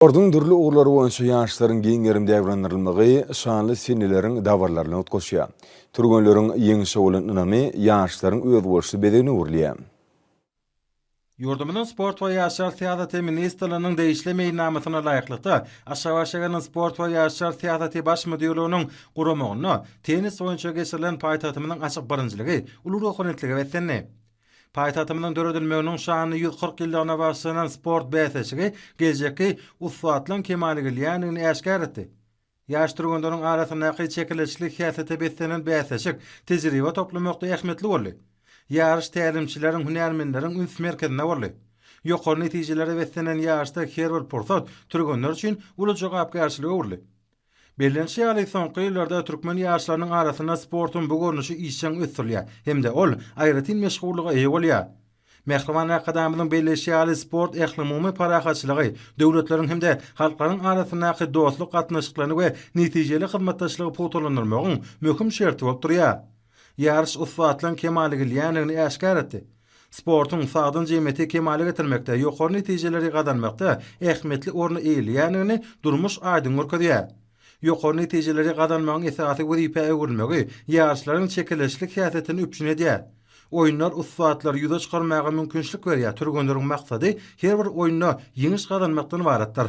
Sportuň dürli ugurlary boýunça ýaşlaryň giň gerim dabranylmagy şanly seneleriň dabaralaryny utgaşýar. Türgenleriň ýeňşe bolan ynamy ýaşlaryň özboluşly bezegine öwrülýär. Ýurdumyzyň Sport we ýaşlar syýasaty ministrliginiň degişli meýilnamasyna laýyklykda, Aşgabat şäheriniň Sport we ýaşlar syýasaty baş müdirliginiň guramagynda tennis boýunça geçirilen paýtagtymyzyň açyk birinjiligi uly ruhubelentlige beslendi. Paýtagtymyzyň döredilmeginiň şanly ýüz kyrk ýyllygyna bagyşlanan sport bäsleşigi geljekki ussatlaryň kemala gelýändigini äşgär etdi. Ýaş türgenleriň arasyndaky çekeleşikli häsiýete beslenen bäsleşik tejribe toplamakda ähmiýetli boldy. Ýaryş tälimçileriň, hünärmenleriň üns merkezinde boldy. Ýokary netijelere beslenen ýaryşda her bir pursat türgenler üçin uly jogapkärçilige öwrüldi. Bellenişi ýaly, soňky ýyllarda türkmen ýaşlarynyň arasynda sportuň bu görnüşi işjeň ösdürilýär hem-de ol aýratyn meşhurlyga eýe bolýar. Mähriban Arkadagymyzyň belleýşi ýaly, sport ählumumy parahatçylygy, döwletleriň hem-de halklaryň arasyndaky dostluk gatnaşyklaryny we netijeli hyzmatdaşlygy pugtalandyrmagyň möhüm şerti bolup durýar. Ýaryş ussatlygyň kemala gelýändigini äşgär etdi. Sportuň sagdyn jemgyýeti kemala getirmekde, ýokary netijeleri gazanmakda ähmiýetli orny eýeleýändigini durmuş aýdyň görkezýär. Ýokary netijeleri gazanmagyň esasy wezipä öwrülmegi ýaryşlaryň çekeleşikli häsiýetini üpjün edýär. Oýunlar ussatlary ýüze çykarmaga mümkinçilik berýär, türgenleriň maksady her bir oýunda ýeňiş gazanmakdan ybaratdyr.